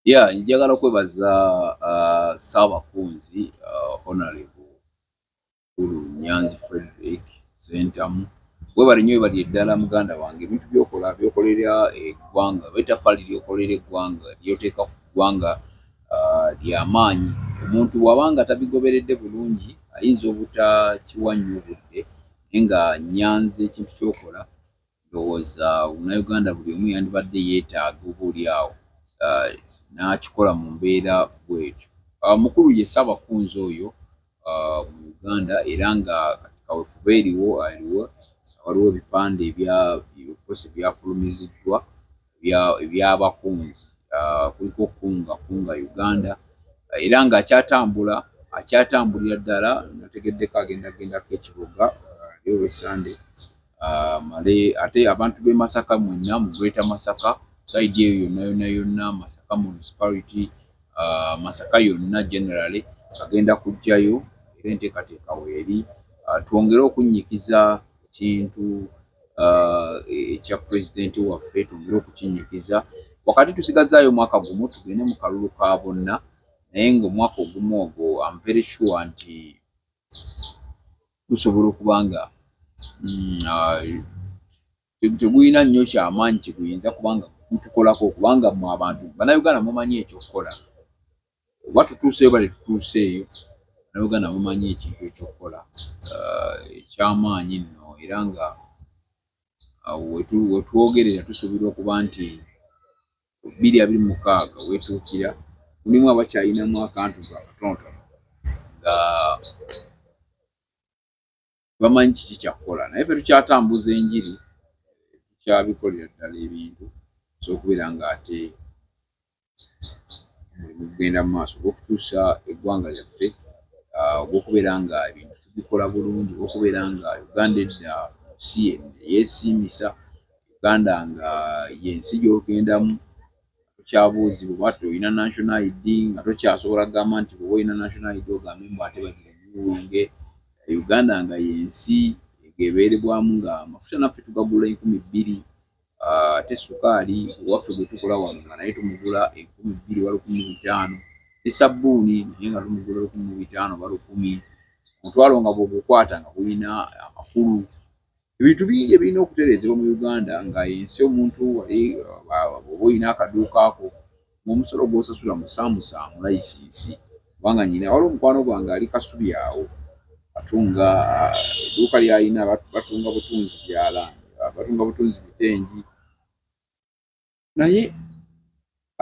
ya njagala kwebaza uh, saabakunzi uh, honorable kulu nyanzi frederick sentamu webale nyo webali eddala muganda wange ebintu byokola byokolera eggwanga betafaali lyokolera eggwanga lyoteeka ku ggwanga uh, lyamaanyi omuntu wabanga tabigoberedde bulungi ayinza obutakiwa nnyo budde naye nga nyanzi ekintu kyokola Ndowooza Munnayuganda buli omu yandibadde yeetaaga oba oli awo uh, n'akikola mu mbeera bw'etyo. Uh, mukulu ye Ssaabakunzi oyo uh, mu Uganda era nga kati kawefube eriwo aliwo waliwo ebipande ebya ebikosi byafulumiziddwa ebyabakunzi ah, kuliko okukunga kunga Uganda ah, era nga akyatambula akyatambulira ddala nategeddeko agenda gendako ekibuga yowe ah, sande male ate abantu b'e Masaka mwenna mu Greater Masaka saidi eyo yonna yonna yonna Masaka municipality Masaka yonna generally agenda kujjayo era enteekateeka weeri twongere okunnyikiza ekintu uh, ekya pulezidenti waffe twongere okukinyikiza wakati tusigazaayo omwaka gumu tugende mu kalulu ka bonna naye ngaomwaka ogumu ogwo am very sure nti gusobola okuba nga mm, uh, tegulina nnyo kyamaanyi kyeguyinza kubanga gutukolako kubanga mu abantu banauganda mumanyi ekyokukola oba tutuuseeyo bale tutuuseeyo nauganda mumanyi ekintu ekyokukola uh, ekyamaanyi nno era nga uh, wetwogerera tusuubirwa okuba nti bbiri abiri mukaaga wetuukira mulimu abakyalinamu akantu akatonotono nga bamanyi kiki kyakukola naye fe tukyatambuza enjiri tukyabikolera ddala ebintu sokubeera nga ate mulimu kugenda mu maaso ogwokutuusa eggwanga lyaffe ah, ogwokubeera nga ebintu tubikola bulungi okubeera nga uganda edda si yesiimisa uganda nga yensi gyogendamu tokyabuuzibwa bwati olina national id nga tokyasobola kugamba nti bwoba olina national id ogambe mbu ate bagiwunge uganda nga yensi egebeerebwamu nga amafuta naffe tugagula enkumi bbiri ah, ate sukaali owaffe gwetukola wano nga naye tumugula enkumi bbiri oba lukumi mu bitaano ne sabbuuni naye nga tumugula lukumi mu bitaano oba lukumi omutwalo nga bwogukwata nga gulina amakulu Ebintu bingi ebirina okutereezebwa mu Uganda nga ensi omuntu wali oba olina akaduuka ko ng'omusolo gw'osasula musaamusaamu layisinsi kubanga nnyina waliwo mukwano gwange ali Kasubi awo atunga ah, edduuka ly'alina batunga butunzi byala ah, batunga butunzi bitengi naye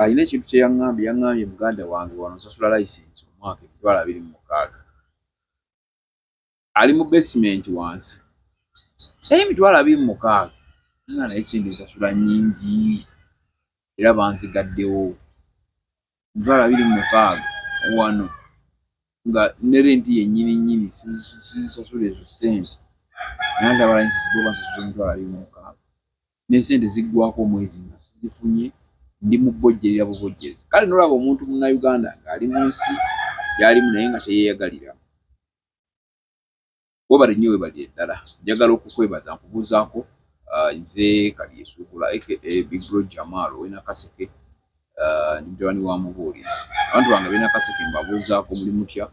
alina ekintu kye yaŋŋambye yaŋŋambye muganda wange wano nsasula layisinsi omwaka emitwalo abiri mu mukaaga ali mu basement wansi naye emitwalo abiri mu mukaaga nga naye sente nsasula nyingi era banzigaddewo emitwalo abiri mu mukaaga wano nga ne renti yennyini nnyini sizisasula ezo sente naye ate abalanyisi sibo bansasula emitwalo abiri mu mukaaga ne sente ziggwako omwezi nga sizifunye ndi mu bojjerera bubojjezi kale nolaba omuntu munnayuganda ng'ali mu nsi gyalimu naye nga teyeeyagalira Webale nnyo webale ddala. Njagala okukwebaza nkubuuzaako uh, nze Kalyesuubula aka Big Bro Jamal ow'e Nakaseke uh, ndi mutabani wa mubuulizi. Abantu bange ab'e Nakaseke mbabuuzaako muli mutya?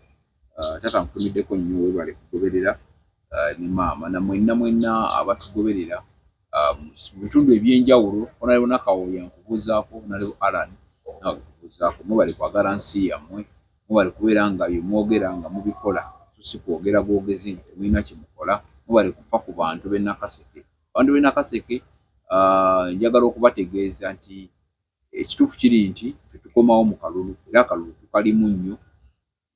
Uh, taata nkutumiddeko nnyo webale kugoberera ne maama na mwenna mwenna abatugoberera um, mu bitundu ebyenjawulo onaliwo nakawooya nkubuuzaako naliwo alan nawe nkubuuzaako mubali kwagala nsi yammwe mubali kubeera nga byemwogera nga mubikola sosi kwogera bwogezi nti temulina kyemukola mubali kufa ku bantu benakaseke abantu benakaseke uh, njagala okubategeeza nti ekituufu kiri nti tetukomawo mu kalulu era akalulu tukalimu nnyo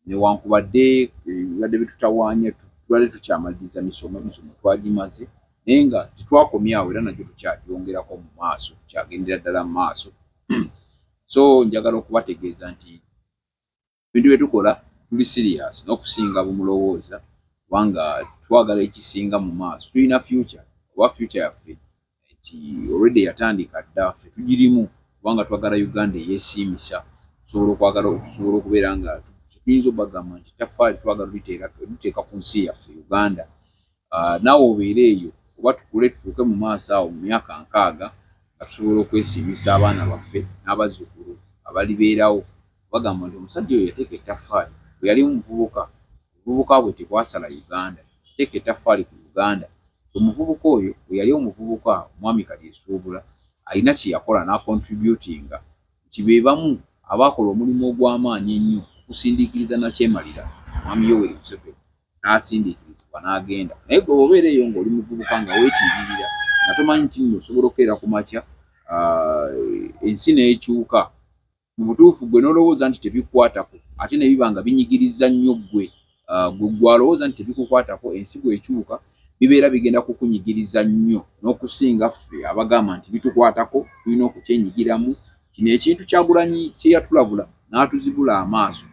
newankubadde bibadde bitutawaanya tubadde tukyamaliriza misomo emisomo twagimaze naye nga tetwakomyawo era nagyo tukyagyongerako mu maaso tukyagendera ddala mu maaso so njagala okubategeeza nti ebintu bye tukola tuli sirias n'okusinga bumulowooza kubanga twagala ekisinga mu maaso tulina future oba future yaffe nti already yatandika dda ffe tugirimu kubanga twagala Uganda eyesiimisa tusobola okwagala tusobola okubeera nga tuyinza obagamba nti taffaali twagala liteeka ku nsi yaffe Uganda ah, naawe obeere eyo oba tukule tutuuke mu maaso awo mu myaka nkaaga nga tusobola okwesiimisa abaana baffe n'abazzukulu abalibeerawo Bagamba nti omusajja oyo yateeka ettaffaali bwe yali muvubuka, obuvubuka bwe tebwasala Uganda. Yateeka ettaffaali ku Uganda. Omuvubuka oyo bwe yali omuvubuka, Omwami Kalyesubula alina kye yakola n'akontributinga nti be bamu abaakola omulimu ogw'amaanyi ennyo okusindiikiriza Nakyemalira, Omwami Yoweri Museveni, n'asindiikirizibwa n'agenda. Naye ggwe bw'obeera eyo ng'oli muvubuka nga weetiiririra nga tomanyi nti nno osobola okukeera ku makya ensi n'ekyuka. Mu butuufu, ggwe n'olowooza nti tebikukwatako, ate ne biba nga binyigiriza nnyo ggwe. Ggwe, ggwe alowooza nti tebikukwatako, ensi bw'ekyuka, bibeera bigenda kukunyigiriza nnyo n'okusinga ffe abagamba nti bitukwatako, tulina okukyenyigiramu. Kino ekintu Kyagulanyi kye yatulabula n'atuzibula amaaso,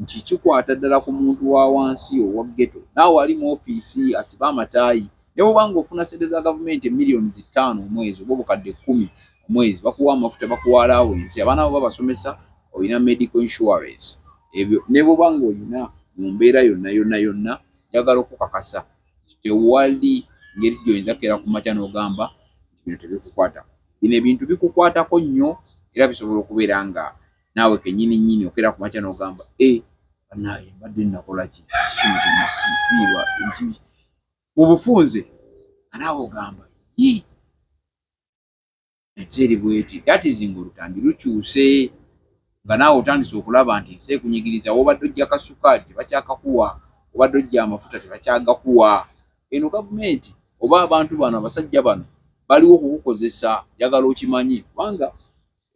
nti kikwata ddala ku muntu wa wansi owa ghetto naawe ali mu ofiisi asibe amataayi ne bw'oba ng'ofuna ssente za gavumenti emiliyoni zi ttaano omwezi oba obukadde kkumi omwezi bakuwa amafuta bakuwa alaawensi abaana bo babasomesa olina medical insurance ebyo ne bw'oba ng'olina mu mbeera yonna yonna yonna njagala okukakasa tewali ngeri gy'oyinza kera ku makya n'ogamba nti bino tebikukwatako bino ebintu bikukwatako nnyo era bisobola okubeera nga naawe kenyini nyini okera ku makya n'ogamba e eh, banaye mbadde nakola ki kino kyenasifiirwa mu bufunze anaawe ogamba yi ensi eri bweti datizinga olutambi lukyuse nga naawe otandise okulaba nti ensi ekunyigiriza wobadde ojja kasukaali tebakyakakuwa obadde ojja amafuta tebakyagakuwa eno gavumenti oba abantu bano abasajja bano baliwo kukukozesa njagala okimanyi kubanga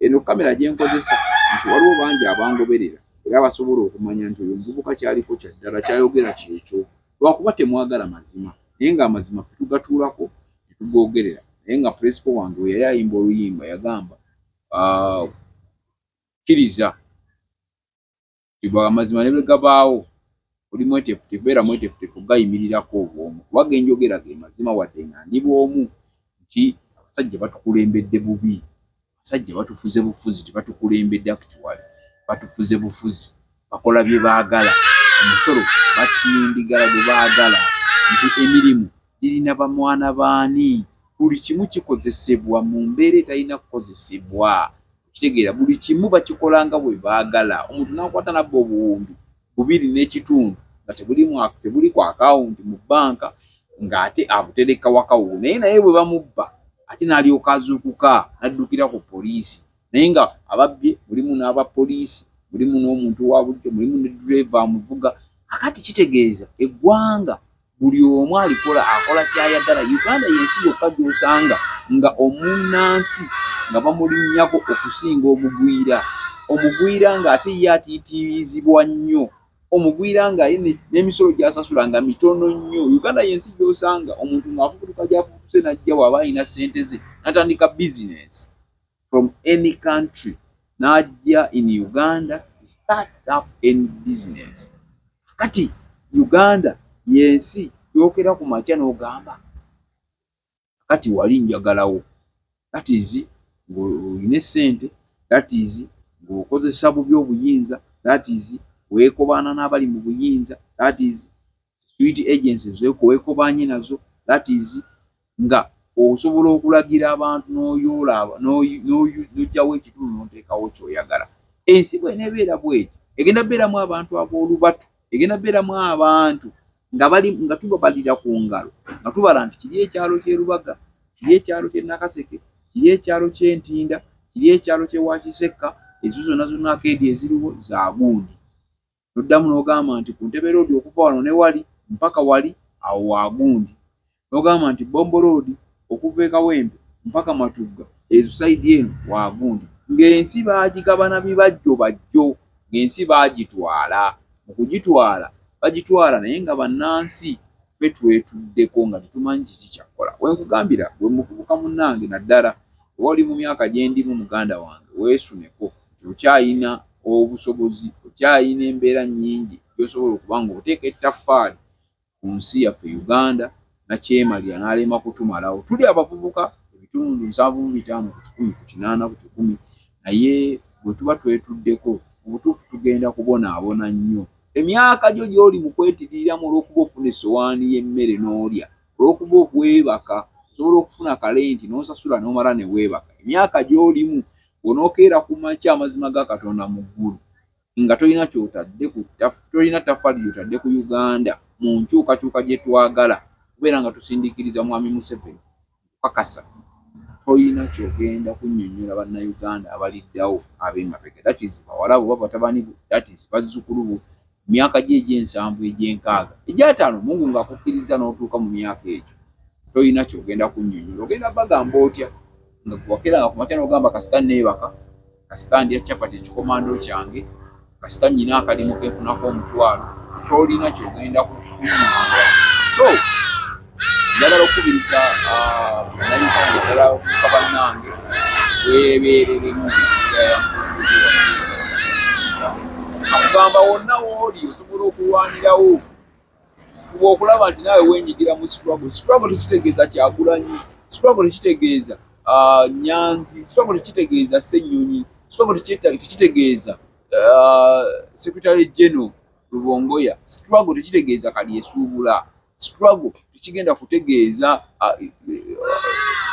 Eno kamera gye nkozesa nti waliwo bangi abangoberera era abasobola okumanya nti oyo omuvubuka kyaliko kya ddala kyayogera kyekyo lwakuba temwagala mazima naye nga amazima fe tugatuulako ne tugoogerera naye nga puleesipo wange we yali ayimba oluyimba yagamba ah, kkiriza Kigwa amazima ne bwe gabaawo, oli mweteefuteefu, beera mweteefuteefu okugayimirirako obw'omu, kuba ge njogera ge mazima wadde nga ndi bw'omu, nti abasajja batukulembedde bubi, abasajja batufuze bufuzi, tebatukulembedde actually, batufuze bufuzi, bakola bye baagala, omusolo batindigala gwe baagala, nti emirimu girina bamwana baani, buli kimu kikozesebwa mu mbeera etalina kukozesebwa. Kitegeera buli kimu bakikola nga bwe baagala, omuntu n'akwata n'abba obuwumbi bubiri n'ekitundu nga tebulimu tebuli ku akawunti mu bbanka ng'ate abutereka waka wuwe naye naye bwe bamubba ate n'alyoka azuukuka n'addukira ku poliisi naye nga ababbye mulimu n'aba poliisi mulimu n'omuntu wa bulijjo mulimu ne ddereeva amuvuga kakati kitegeeza eggwanga buli omu alikola akola kyayagala. Uganda yensi yokka gyosanga nga omunnansi nga bamulinnyako okusinga omugwira, omugwira nga ate ye atiitiibizibwa nnyo, omugwira nga ye n'emisolo gyasasula nga mitono nnyo. Uganda yensi gyosanga omuntu ng'afubutuka gyafubutuse n'ajja waaba alina ssente ze natandika bizinensi. from any country n'ajja in Uganda start up any business. Kati Uganda yensi yokera ku makya n'ogamba kati wali njagalawo that is ng'olina essente that is ng'okozesa bubi obuyinza that is weekobaana n'abali mu buyinza that is security agency zekowekobaanye nazo that is nga osobola okulagira abantu noyoola nojjawo ekitundu nonteekawo kyoyagala ensi bwenebeera bweti egenda beeramu abantu ab'olubatu egenda beeramu abantu nga bali nga tubabalira ku ngalo nga tubala nti kiri ekyalo kyerubaga kiri ekyalo kye nakaseke kiri ekyalo kyentinda kiri ekyalo kyewakisekka ezo zonna zonna akeedi eziriwo zagundi N'oddamu n'ogamba nti, Ku Ntebe Road okuva wano ne wali, mpaka wali, awo wa gundi. N'ogamba nti, Bombo Road okuva e Kawempe mpaka Matugga, ezo sayidi eno, wa gundi. Ng'ensi baagigabana bibajjo bajjo, ng'ensi baagitwala. Mu kugitwala, bagitwala naye nga bannansi ffe twetuddeko nga tetumanyi kiki kya kukola. We nkugambira, ggwe muvubuka munnange naddala, oba oli mu myaka gye ndimu muganda wange, weesuneko. okyalina obusobozi, okyalina embeera nnyingi gy'osobola okuba ng'oteeka ettaffaali ku nsi yaffe Uganda nakyemalira n'alema kutumalawo. Tuli abavubuka ebitundu nsanvu mu bitaano ku kikumi ku kinaana ku kikumi, naye bwe tuba twetuddeko mu butuufu tugenda kubonaabona nnyo. Emyaka gyo gy'oli mu kwetiriiramu olw'okuba ofuna essowaani y'emmere n'olya, olw'okuba weebaka osobola okufuna kalenti n'osasula n'omala ne weebaka, emyaka gy'olimu Bw'onookeera ku makya amazima ga Katonda mu ggulu nga tolina ky'otadde ku ttaf, tolina ttaffaali ly'otadde ku Uganda mu nkyukakyuka gye twagala okubeera nga tusindiikiriza Mwami Museveni, nkukakasa tolina ky'ogenda kunnyonnyola Bannayuganda abaliddawo, ab'emabega, that is bawala bo oba batabani bo, that is bazzukulu bo, Mu myaka gyo egy'ensanvu, egy'enkaaga, egy'ataano, Mungu ng'akukkirizza n'otuuka mu myaka egyo, tolina ky'ogenda kunnyonnyola. Ogenda bagamba otya nga gwe wakeeranga ku makya n'ogamba kasita nneebaka, kasita ndya capati ekikomando kyange, kasita nnyina akalimu ke nfunako omutwalo? Tolina ky'ogenda kunnyonnyola. So. njagala okukubiriza nayitanga eddala okuka bannange weebeereremu akugamba wonna wooli osobola okulwanirawo fuba okulaba nti naawe wenyigira mu struggle struggle tekitegeeza kyagulanyi struggle tekitegeeza ah, nyanzi struggle tekitegeeza ssennyonyi struggle tekitegeeza ah, secretary general lubongoya struggle tekitegeeza kalyesuubula struggle tekigenda kutegeeza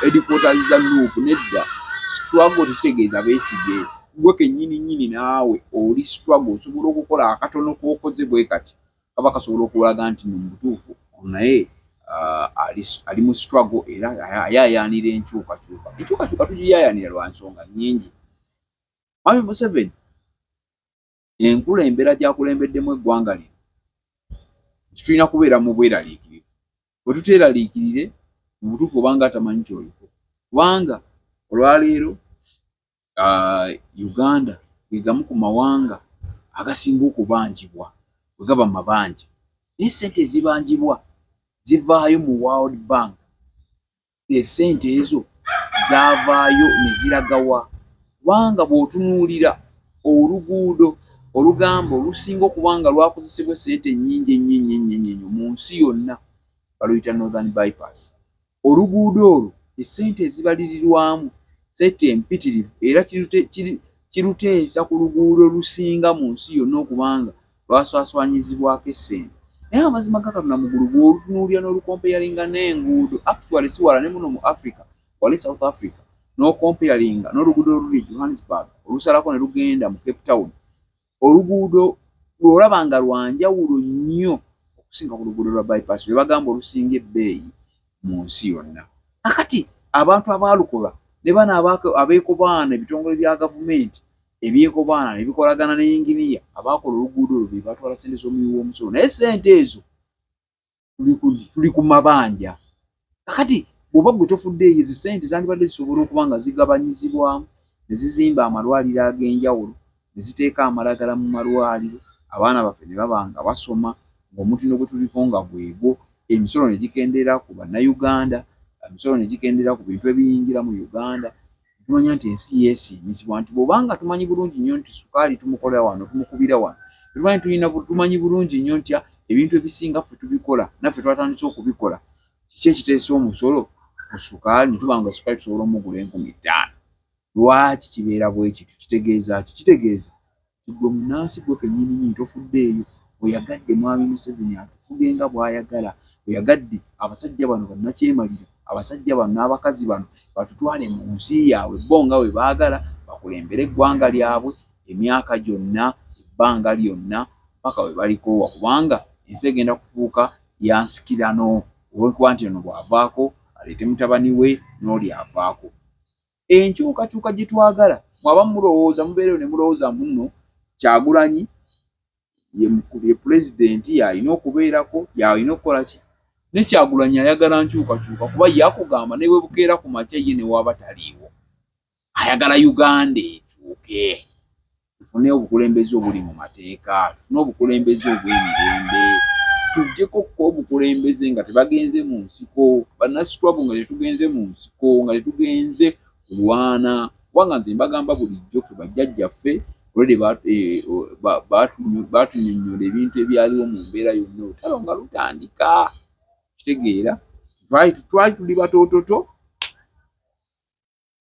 headquarters za nup nedda struggle tekitegeeza beesige gwe kenyini nyini naawe oli struggle osobola okukola akatono kokoze bwe kati kaba kasobola okulaga nti no mubutuufu naye ali mu struggle era ayayaanira enkyukakyuka enkyukakyuka tugiyayaanira lwa nsonga nyingi mwami museveni enkula embera gyakulembeddemu eggwanga lino nti tulina kubeera mu bweraliikirivu bwe tuteeraliikirire mu butuufu obanga atamanyi kyoliko kubanga olwaleero uh, uganda gegamu ku mawanga agasinga okubanjibwa bwe gaba mabanja naye sente ezibanjibwa zivaayo mu world bank esente ezo zavaayo ne ziragawa? Kubanga bw'otunuulira oluguudo olugamba olusinga okuba nga lwakozesebwa esente ennyingi ennyo ennyo ennyo ennyo ennyo mu nsi yonna baluyita Northern Bypass. Oluguudo olwo esente ezibalirirwamu sente empitirivu era kiruteesa ku luguudo olusinga mu nsi yonna okuba nga lwaswaswanyizibwako essente naye amazima ga Katonda mugulu bw'olutunuulira n'olukompeyalinga n'enguudo actually si wala ne muno mu Africa wali South Africa n'okompeyalinga n'oluguudo oluli Johannesburg olusalako ne lugenda mu Cape Town oluguudo lw'olaba nga lwa njawulo nnyo okusinga ku luguudo lwa bypass lwe bagamba olusinga ebbeeyi mu nsi yonna kakati abantu abaalukola ne bano abeekobaana ebitongole bya gavumenti ebyekobaana ne bikolagana ne yinginiya abaakola oluguudo olwo be batwala ssente z'omuwi w'omusolo naye ssente ezo tuli ku mabanja kakati bw'oba gwe tofuddeeyo ezi ssente zandibadde zisobola okuba nga zigabanyizibwamu ne zizimba amalwaliro ag'enjawulo ne ziteeka amalagala mu malwaliro abaana baffe ne baba nga basoma ng'omutindo gwe tuliko nga gwegwo emisolo ne gikendeera ku bannayuganda emisolo ne gikendeera ku bintu ebiyingira mu uganda tumanya nti ensi yeesiimizibwa nti bwobanga tumanyi bulungi nnyo nti sukaali tumukolera wano tumukubira wano tumanyi tulina tumanyi bulungi nnyo ntya ebintu ebisinga ffe tubikola naffe twatandise okubikola kiki ekiteesa omusolo ku sukaali netuba nga sukaali tusobola omugula enkumi ttaano lwaki kibeera bwekityo kitegeeza ki kitegeeza Ggwe munnansi ggwe kennyininnyini tofuddeeyo, oyagadde Mwami Museveni atufuge nga bw'ayagala, oyagadde abasajja bano bannakyemalira, abasajja bano n'abakazi bano batutwale mu nsi yaabwe bo nga bwe baagala, bakulembere eggwanga lyabwe emyaka gyonna, ebbanga lyonna mpaka bwe balikoowa kubanga ensi egenda kufuuka ya nsikirano olw'okuba nti ono bw'avaako aleete mutabani we n'oli avaako. enkyukakyuka gyetwagala mwe abamu mulowooza mubeereyo ne mulowooza mbu nno Kyagulanyi ye ye pulezidenti y'alina okubeerako y'alina okukola ki ne Kyagulanyi ayagala nkyukakyuka kuba yakugamba ne bwe bukeera ku makya ye ne waaba taliiwo ayagala Uganda ekyuke. tufune obukulembeze obuli mu mateeka, tufune obukulembeze obw'emirembe, tujjeko okuba obukulembeze nga tebagenze mu nsiko, bannasitwabu nga tetugenze mu nsiko, nga tetugenze kulwana, kubanga nze mbagamba bulijjo fe bajjajjaffe olwedde eh, baatunyonyola ebintu ebyaliwo mu mbeera yonna olutalo nga lutandika kitegeera twali tuli batoototo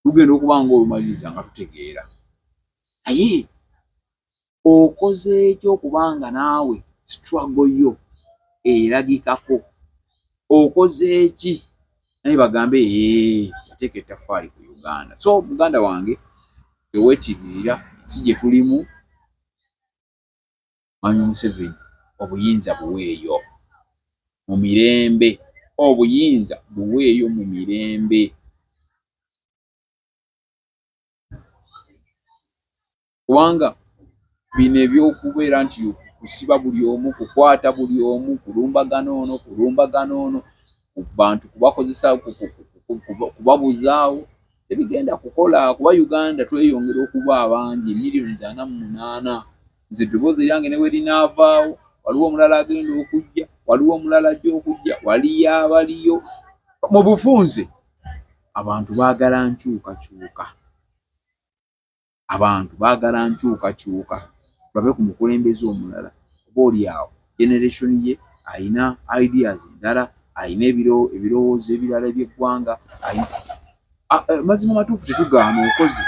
lugenda okuba nga olumaliriza nga tutegeera naye okozeeki okuba nga naawe strago yo eragikako okozeeki naye bagambe ee ateeka ettafaali ku uganda so muganda wange tewetiririra si gye tulimu Mwami Museveni obuyinza buweeyo mu mirembe. Obuyinza buweeyo mu mirembe. Kubanga bino eby'okubeera nti kusiba buli omu, kukwata buli omu, kulumbagana ono, kulumbagana ono, bantu kubakozesa, kubabuzaawo. tebigenda kukola kuba Uganda tweyongera okuba abangi million ana mu munaana nze eddoboozi eryange ne werinaavaawo waliwo omulala agenda okujja waliwo omulala ajja okujja waliyo abaliyo mu bufunze abantu baagala nkyukakyuka abantu baagala nkyukakyuka babe ku mukulembeze omulala oba oli awo generation ye alina ideas endala alina ebirowoozo ebirala eby'eggwanga eh, mazima matuufu tetugaana okoze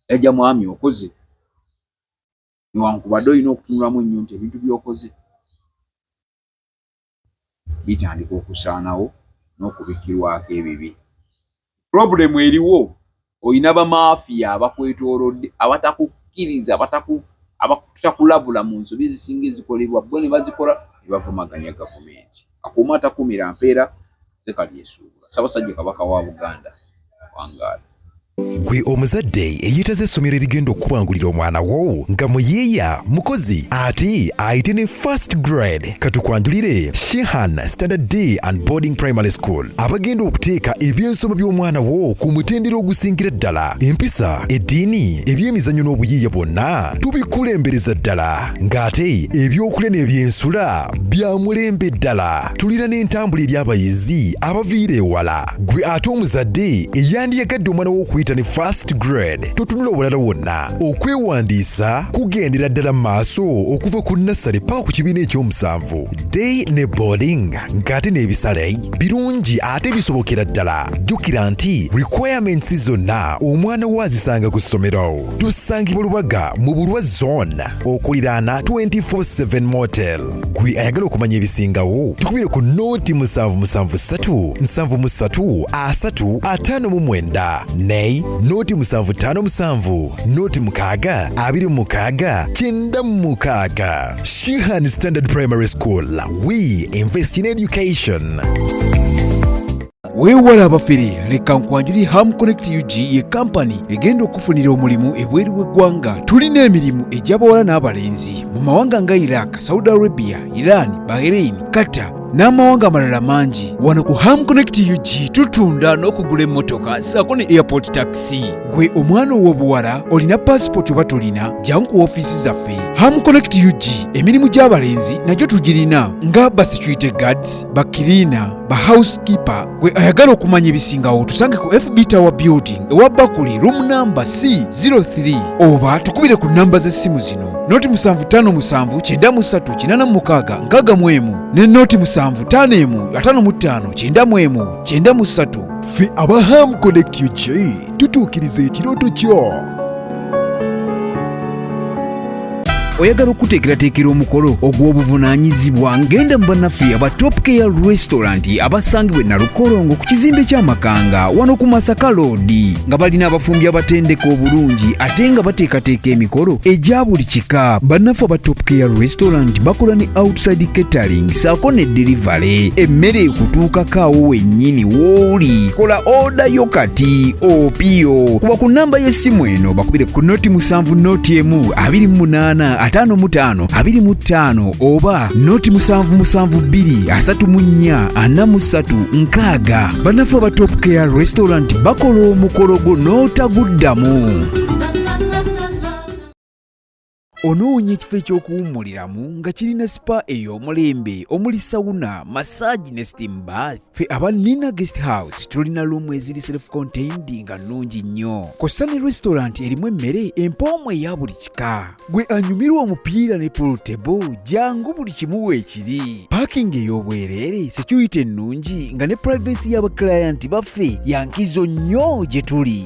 yajja mwami okoze newankubadde olina okutunulamu ennyo nti ebintu byokoze bitandika okusaanawo n'okubikkirwako ebibi. Pulobulemu eriwo, olina bamaafiya abakwetoolodde abatakukkiriza, abataku abatakulabula mu nsobi ezisinga ezikolebwa bo ne bazikola ne bavumaganya gavumenti. Akuuma takumira mpeera. Nze Kalyesuubula, Ssabasajja Kabaka wa Buganda, wangaala. Gwe omuzadde eyeetaze essomero erigenda okukubangulira omwana wo nga muyiiya mukozi ate ayite ne first grade katukwanjulire Shehan Standard D and Boarding Primary School abagenda okuteeka ebyensoma by'omwana wo ku mutendera ogusingira ddala empisa eddiini ebyemizannyo n'obuyiiya bwonna tubikulembereza ddala ng'ate ebyokulya n'ebyensula bya mulembe ddala tulina n'entambula eri abayizi abaviira ewala gwe ate omuzadde eyandiyagadde omwana w'okuyita ne fast grade totunula obulala wonna okwewandiisa kugendera ddala maaso okuva ku nassale paka ku kibiina ekyomusanvu day ne boarding ng'ate n'ebisale birungi ate bisobokera ddala jjukira nti requirements zonna omwana wo azisanga ku ssomero tusangibwa lubaga mu bulwa zone okuliraana 247 motel gwe ayagala okumanya ebisingawo tukubire ku nooti musanvu musanvu ssatu nsanvu mu ssatu asatu ataano mu mwenda nay nooti musanvu ttaano musanvu nooti mukaaga abiri mu mukaaga kyenda mu mukaaga shihan standard primary school we invest in education weewala abafere leka nkwanjuli ham connect ug ye kampani egenda okufunira omulimu ebweru w'eggwanga tulina emirimu egy'abawala n'abalenzi mu mawanga nga iraq saudi arabia iran bahrain qatar n'amawanga amalala mangi wano ku ham connect ug tutunda n'okugula emmotoka saako ne airport taxi gwe omwana ow'obuwala olina paasipooti oba tolina jangu ku ofiisi zaffe ham connect ug emirimu gy'abalenzi nagyo tugirina nga basecurity guards bakiriina ba housekeeper gwe ayagala okumanya ebisingawo tusange ku fb tower building ewa bakuli room number c 03 oba tukubire ku namba z'essimu zino noti 75593866 ne noti 755953 93 fe aba ham connect ug tutuukiriza ekirooto kyo oyagala okuteekerateekera omukolo ogw'obuvunaanyizibwa ngenda mu bannaffe aba top care restaurant abasangibwa enalukolongo ku kizimbe ky'amakanga wano ku masaka loodi nga balina abafumbi abatendeka obulungi ate nga bateekateeka emikolo egya buli kika bannaffe aba top care restaurant bakola ne outside catering saako ne delivery emmere ekutuukako awo wennyini wooli kola oda yo kati opiyo kuba ku namba y'essimu eno bakubire ku noti musanvu noti emu abiri mu munaana ataano mu taano abiri mu ttaano oba noti musanvu musanvu bbiri asatu mu nnya ana mu ssatu nkaaga bannaffe aba top care restaurant bakola omukolo gwo n'otaguddamu Onoonya ekifo eky'okuwummuliramu nga kirina sipa ey'omulembe omuli sawuna, massage ne steam bath. Ffe aba Nina Guest House tulina luumu eziri self contained nga nnungi nnyo. Kossa ne restaurant erimu emmere empoomu eya buli kika. Gwe anyumirwa omupiira ne pool table jangu buli kimu weekiri. Parking ey'obwereere, security ennungi nga ne privacy y'abaklayant baffe ya nkizo nnyo gye tuli.